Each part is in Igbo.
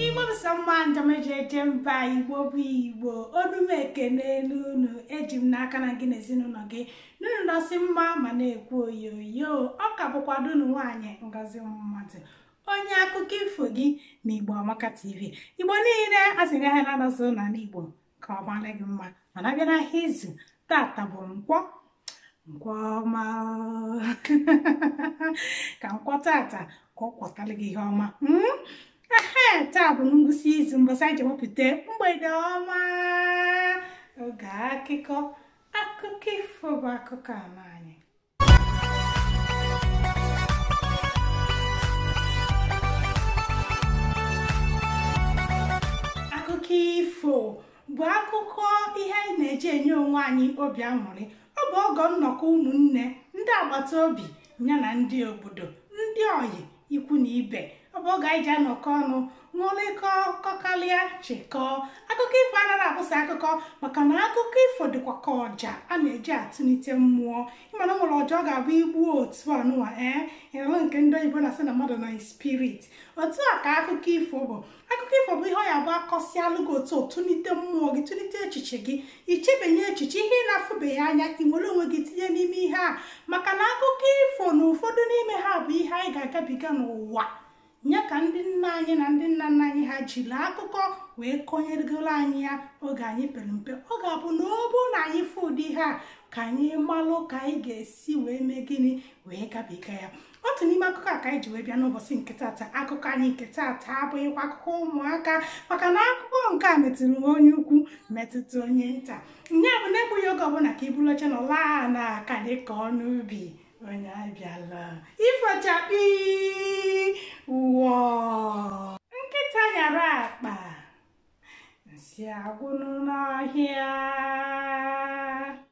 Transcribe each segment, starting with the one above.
igbo bụsa mma njem eji eje mba igbo bụ igbo onume ekene n'unu eji m n'aka na gị na ezinụlọ gị na unu nọsị mma ma na-ekwu oyoyo ọ ka bụkwa ada unu nwaanyị ngozi mmadụ onye akụkọ ifo gị na igbo amaka tv igbo niile asị ahịa naanọ dị n'ala igbo ka ọ mara gị mma mana a bịa n'ahịa izu tata bụ nkwọ nkwọ ọma ka nkwọ tata ka ọ kwọtara gị ihe ọma ehe taa bụ ngwụsị izu mbọsị anyị ji wepụta mgbede ọma oge akụkọ akụkọ ifo bụ akụkọ ala anyị akụkọ ifo bụ akụkọ ihe anyị na-eji enye onwe anyị obi aṅụrị ọ bụ oge nnọkọ ụmụnne ndị agbata obi ya na ndị obodo ndị oyi ikwu na ibe ọ bụ oge anyị ji anọkọ ọnụ ṅụrịkọ kọkalịa chịkọọ akụkọ ifo anaghị abụ sọ akụkọ maka na akụkọ ifo dịkwa ka ọja a na-eji atụlite mmụọ ị ma na e nwere ọja ọ ga-abụ e gbuo otu anụwa ee ị nụrụ nke ndị oyibo na-asị na mmadụ nọ na spirit otu a ka akụkọ ifo bụ akụkọ ifo bụ ihe ọ ya-abụ a kọsịalụ gị otu tụlite mmụọ gị tụlite echiche gị i chebanye echiche ihe ị na-afụbeghị anya i were onwe gị tinye n'ime ihe a maka na akụkọ ifo na ụfọdụ n'ime ha bụ ihe anyị ga-agabiga n'ụwa ya ka ndị nna anyị na ndị nna nna anyị ha jiri akụkọ wee kọnyegoro anyị ya oge anyị pere mpe ọ ga-abụ na ọ bụrụ na anyị fụ ụdị ihe a ka anyị malụ ka anyị ga-esi wee mee gịnị wee gabiga ya otu n'ime akụkọ a ka anyị ji wee bịa n'ụbọchị nke taata akụkọ anyị nke taata abụghịkwa akụkọ ụmụaka maka na akụkọ nke a metụrụ onye ukwu metụta onye nta nya bụ na egbughị oge ọbụla ka i buru oche nọọ ala na aka dị ka ọnụ ubi onye abịala ifo chakpii wọọ nkịta nyara akpa nsị agwụnụ n'ọhịa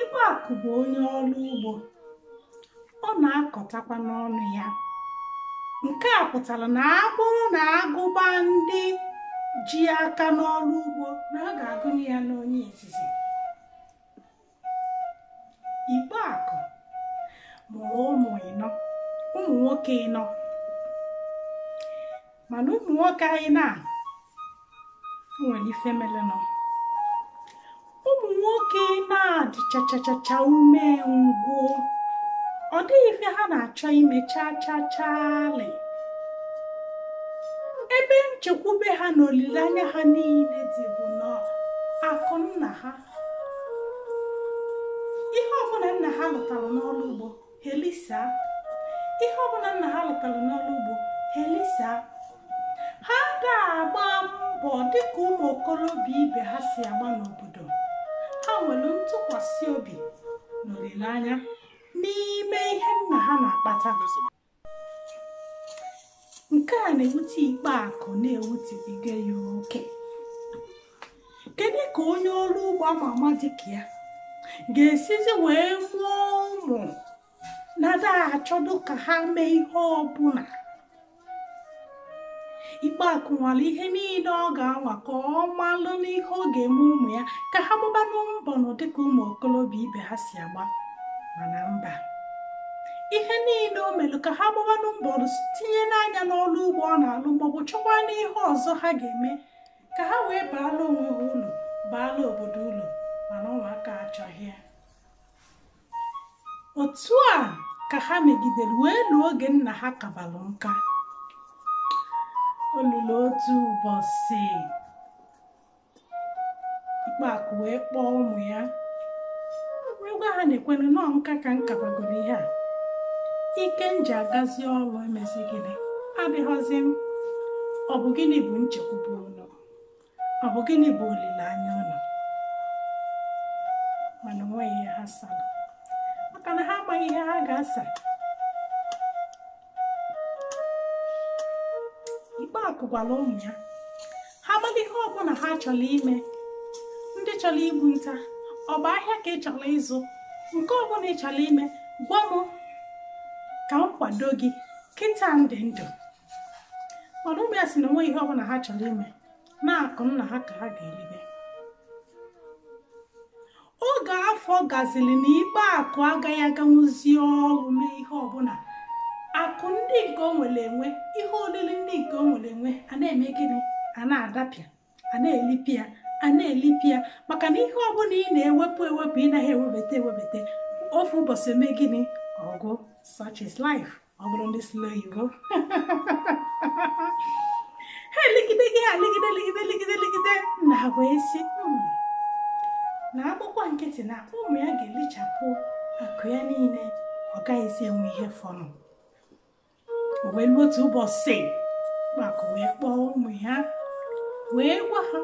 Igbeakụ bụ onye ọrụ ugbo ọ na-akọtakwa n'ọnụ ya nke a pụtara na a bụrụ na a gụba ndị ji aka n'ọrụ ugbo na a ga-agụnye ya n'onye izizi Igbeakụ mụrụ ụmụ ịnọ ụmụ nwoke ịnọ mana ụmụ nwoke anyị na nwere ife melenụ ụmụ nwoke na-adị chachachacha ume ngwụ ọ dịghị ife ha na-achọ ime chaa chaa chaale ebe nchekwube ha na olileanya ha niile dị bụ n'akụ nna ha ihe ọbụla nna ha lụtara n'ọrụ ugbo ha elisịa ihe ọbụla nna ha lụtara n'ọrụ ugbo ha elisịa ha ga-agba mbọ dịka ụmụ okorobịa ibe ha si agba n'obodo ha nwere ntụkwasị obi na olileanya n'ime ihe nna ha na-akpata nke a na-ewute Ikpeakụ na-ewutebiga ya oke kedu ka onye ọrụ ugbo ama ama dịka ya ga-esizi wee mụọ ụmụ na-ada achọdụ ka ha mee ihe ọbụla Ikpeakụ nwalụ ihe niile ọ ga-anwa ka ọ malụnụ ihe ọ ga-eme ụmụ ya ka ha gbabanụ mbọ nụ dịka ụmụ okorobịa ibe ha si agba mana mba ihe niile o melu ka ha gbabanụ mbọ tinyenụ anya n'ọrụ ugbo ọ na-alụ maọbụ chọkwanụ ihe ọzọ ha ga-eme ka ha wee baala onwe ha ulu baala obodo ulu mana ụmụaka achọghị ya otu a ka ha megidere wee luo oge nna ha kabalụ nka o lulu otu ụbọchị Ikpeakụ wee kpọọ ụmụ ya wee gwa ha nekwerenụ o nka ka m kabagoro ihe a ike m ji agazi ọrụ emezi gịnị adịghọzi m ọ bụ gịnị bụ nchekwube unu ọ bụ gịnị bụ olileanya unu mana onweghị ihe ha sara maka na ha amaghị ihe ha ga-asa Ikpeakụ gwara ụmụ ya ha malụ ihe ọbụla ha chọrọ ime ndị chọrọ igbu nta ọ bụ ahịa ka ị chọrọ ịzụ nke ọbụla ị chọrọ ime gwa m ka m kwado gị kịta m dị ndụ mana ụmụ ya si na onweghị ihe ọbụla ha chọrọ ime na akụ nna ha ka ha ga-eribe oge afọ gaziri na Ikpeakụ agaghị aganwuzi ọrụ mee ihe ọbụla akụ ndị nke o nwere enwe ihe oriri ndị nke o nwere enwe a na-eme gịnị a na-adapịa a na-elipịa a na-elipịa maka na ihe ọbụla ị na-ewepụ ewepụ ị naghị ewebata ewebata ofu ụbọchị eme gịnị ọ gwụ such is life ọ bụrụ ndị sụlụ oyibo ha elegide gị ha legide legide legide legide na wee sị na a kpọkwa nkịtị na ụmụ ya ga-elichapụ akụ ya niile ọ gaghịzi enwe ihe fọrọ o wee luo otu ụbọchị Ikpeakụ wee kpọọ ụmụ ya wee gwa ha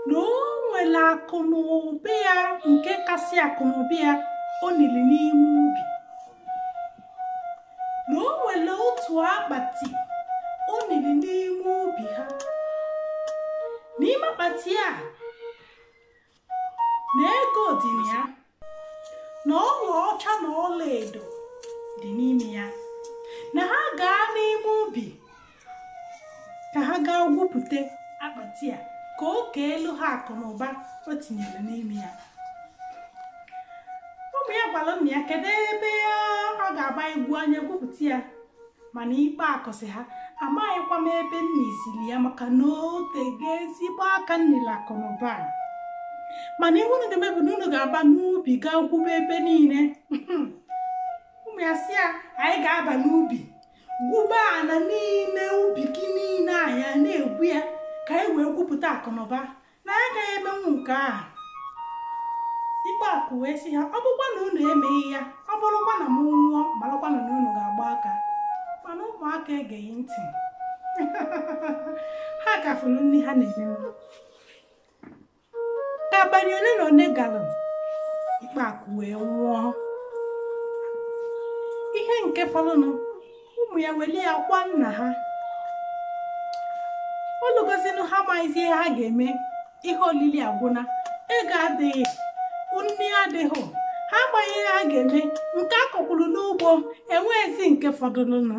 na o nwere akụ na ụba ya nke kasị akụ na ụba ya o niri n'ime ubi na o nwere otu akpati o niri n'ime ubi ha n'ime akpati a na ego dị na ya na ọlaọcha na ọlaedo dị n'ime ya na ha gaa n'ime ubi ka ha gaa gwupụta akpati a ka o keelụ ha akụ na ụba o tinyere n'ime ya ụmụ ya gwara nna ya kedu ebe ọ ga-abụ e gwuo anyị egwupụta ya mana Ikpeakụ sị ha amaghịkwa m ebe m nizili ya maka na o tego ezigbo aka m nili akụ na ụba a. mana ihe unu ga-eme bụ na unu ga-aba n'ubi gaa gwube ebe niile ụmụ ya sị ya anyị ga-aba n'ubi gwuba ala n'ime ubi gị niile anyị a na-egwu ya ka anyị wee gwupụta akụnụba na anyị agaghị emenwu nke a Ikpeakụ wee sị ha ọ bụkwa na unu emeghị ya ọ bụrụkwa na m nwụọ marakwanụ na unu ga-agba aka mana ụmụaka egeghị ntị ha ka fụrụ nri ha na-eme abalị ole na ole gara Ikpeakụ wee nwụọ ihe nke fọrọnụ ụmụ ya welu ya kwaa nna ha o lugozinụ ha amaghịzi ihe ha ga-eme ihe olili agwụna ego adịghị nri adịghị ha amaghị ihe ha ga-eme nke a kọkwuru n'ugbo enweghịzi nke fọdụrụnụ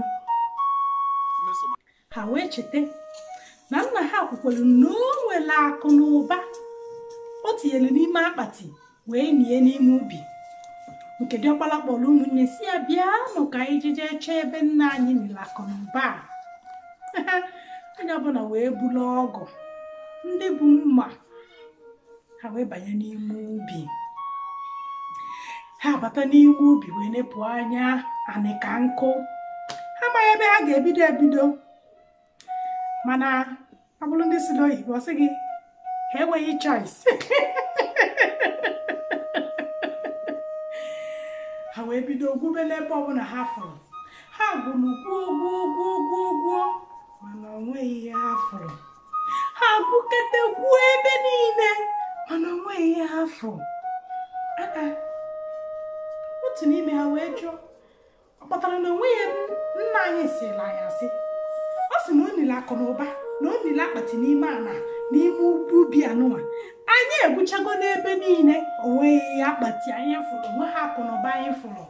ha wee cheta na nna ha kwukwara na o nwere akụ na ụba o tinyere n'ime akpati wee nie n'ime ubi nke diọkpala kpọrọ ụmụnne sị ha bịanụ ka anyị jije chọọ ebe nna anyị nili akụ na ụba a onye ọbụla wee bulu ọgụ ndị bu mma ha wee banye n'ime ubi ha bata n'ime ubi wee nepụ anya anị ka nkụ ha amaghị ebe ha ga-ebido ebido mana ọ bụrụ ndị sụlụ oyibo a sị gị ha enweghị choice ha wee bido gwube n'ebe ọbụla ha fụrụ ha gwuru gwuo gwuo gwuo gwuo gwuo mana o nweghị ihe ha fụrụ ha gwukete gwuo ebe niile mana onweghị ihe ha fụrụ otu n'ime ha wee jụọ ọ kpatara na onweghị nna anyị sịlị anyị asị ọ sị na o nili akụ na ụba na o nili akpati n'ime ana n'ime ubi anụwa anyị egwuchago n'ebe niile onweghị akpati anyị fụrụ onweghị akụ na ụba anyị fụrụ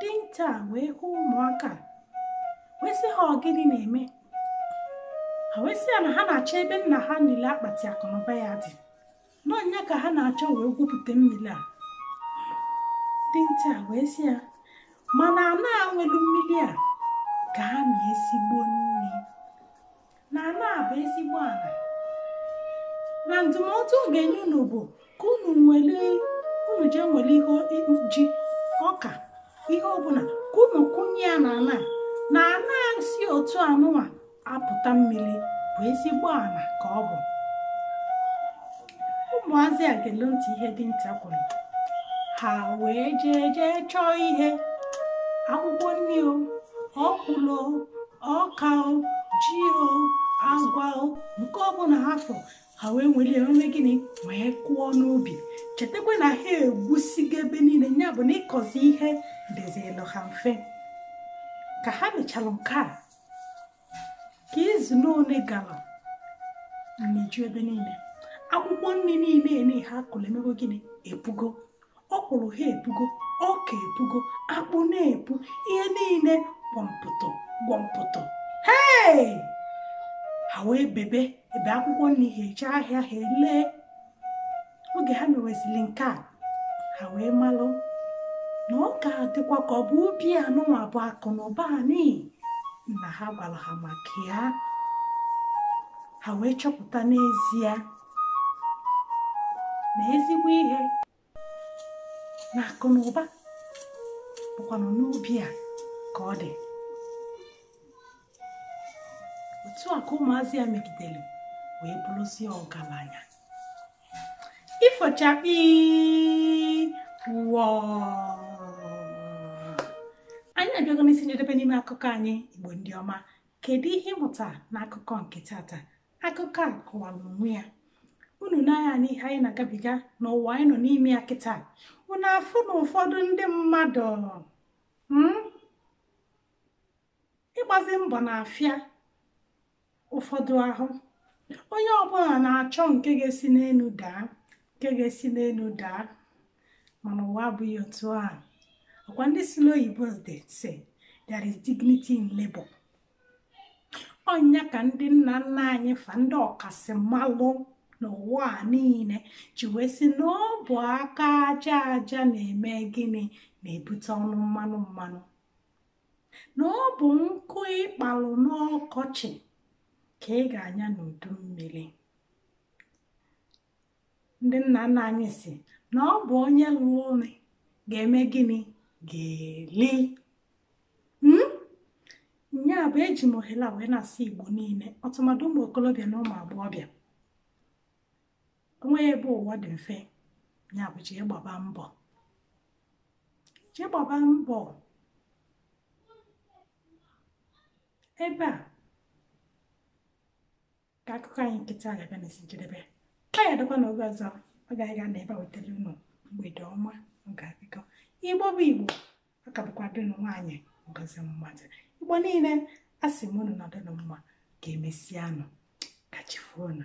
dinta wee hụ ụmụaka wee sị ha ọ gịnị na-eme ha wee sị ya na ha na-achọ ebe nna ha nili akpati akụ na ụba ya dị na ọ ya ka ha na-achọ wee gwupụta mmiri a dinta wee sị ya mana ana nwelu mmiri a ka ha na ezigbo nri na ana a bụ ezigbo ala na ndụmọdụ ọ ga-enye unu bụ ka unu jee nwere ihe ji ọka ihe ọbụla ka unu kụnye ya n'ana na ana si otu anụnwa apụta mmiri bụ ezigbo ana ka ọ bụ ụmụazị a gelu ntị ihe dinta kwuru ha wee jee jee chọọ ihe akwụkwọ nri o ọkwụlụ o ọka o ji o agwa o nke ọbụla ha fụ ha wee nwere ya mee gịnị wee kụọ n'ubi chetakwa na ha egwusigo ebe niile ya bụ na ịkọzi ihe dịzịlụ ha mfe ka ha mechara nke a ka izu n'one gara meju ebe niile akwụkwọ nri niile ni ha kụrụ emego gịnị epugo ọkwụrụ ha epugo ọka epugo akpụ na-epu ihe niile gwọmpụtọ gwọmpụtọ hei ha wee bebe ebe akwụkwọ nri ha eje ahịa ha elee oge ha mewezili nke a ha wee malụ na ọ ga-adịkwa ka ọ bụ ubi anụnwa bụ akụ na ụba ni nna ha gwara ha maka ya ha wee chọpụta n'ezie na ezigbo ihe na akụ na ụba bụkwanụ n'ubi a ka ọ dị otu a ka ụmụazị a megidere wee bụrụzie ọgaranya ifo chakpi wọ anyị abịago n'isi njedebe n'ime akụkọ anyị igbo ndị ọma kedu ihe ị mụta n'akụkọ nke tata akụkọ a kọwara onwe ya unu nee anya n'ihe anyị na-agabiga n'ụwa anyị nọ n'ime ya kịta unu afụ na ụfọdụ ndị mmadụ hmm? ịgbazi mbọ na-afịa ụfọdụ ahụ onye ọbụla na-achọ nke ga-esi n'elu daa nke ga-esi n'elu daa mana ụwa abụghị otu a ọkwa ndị si n'oyibo sị there is dignity in labor ọ nya ka ndị nna nna anyị fa ndị ọkasị mmalụ n'ụwa a niile ji wee sị na ọ bụ aka aja aja na-eme gịnị na-ebute ọnụ mmanụ mmanụ na ọ bụ nkụ ị kpalụ n'ọkọchị ka ị ga-anya n'udu mmiri ndị nna nna anyị si na ọ bụ onye lụlụ ọlụ ga-eme gịnị ga-eli hmm? nya bụ eji m ohere a wee na-asị igbo niile ọtụmadụ ụmụ okolobịa na ụmụ agbọghọbịa o nweghị ebe ụwa dị mfe ya bụ jee gbaba mbọ jee gbaba mbọ ebe a ka akụkọ anyị nke taa ga-abịa n'isi njedebe ka ya dịkwa na oge ọzọ ọ ga-aga na ebe a wetara unu mgbede ọma oge akụkọ igbo bụ igbo ọ ka bụkwa ada unu nwaanyị ngozi mmadụ igbo niile a sị m unu nọdụnụ mma ka emesianụ ka chi foonụ